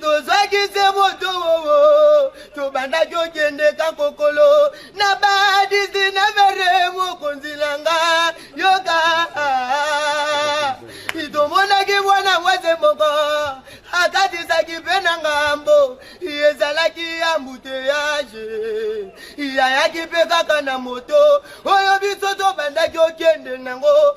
tozwaki se moto wowo tobandaki okende kakokolo na ba 19 re mokonzi na nga yoka tomonaki mwana mwasi moko akatisaki mpe na ngambo ezalaki ambuteyaje yayaki mpe kaka na moto oyo biso tobandaki okende nango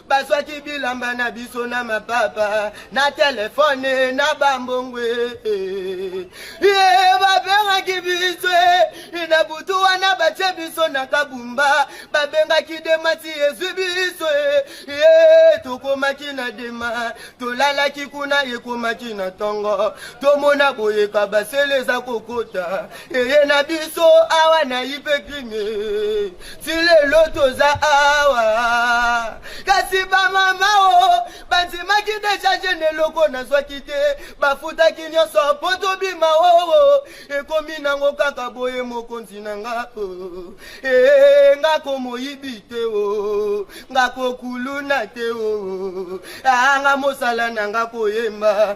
bazwaki bilamba na biso na mapapa na telefone na bambongwe ye babengaki biso e, na butu wana batye biso na kabumba babengaki demati ezwi biso e, ye tokomaki na dema tolalaki kuna ekomaki na ntongo tomona boyeka basele eza kokota eye na biso awa na ipekrime ti lelo toza awa kasi bamama o bandimaki deja jene eloko nazwaki te bafutaki nyonso mpo tobima oo ekomi nango kaka boye mokonzi na nga o ee nga komoyibi te o nga kokuluna te o anga mosala na nga koyemba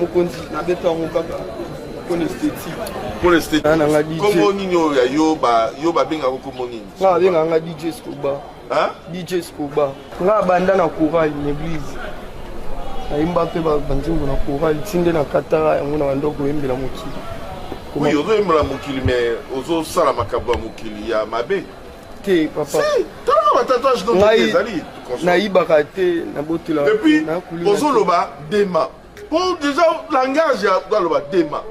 mokonzi nabeta yango kaka mpona esthétique mpona esthétiquekombo nini oyo ya yo yo babengaka kombo nini nga babengaka nga dj scoba dj scoba nga abanda na coral na église nayemba mpe banzembo na coral ti nde na katara yango na banda koyembela mokili oui ozoyembela mokili mais ozosala makambo ya mokili ya mabe te papa si tala ba tatouage no ngai ezali nayibaka te na botela et puis ozoloba dema po déjà langage ya aloba dema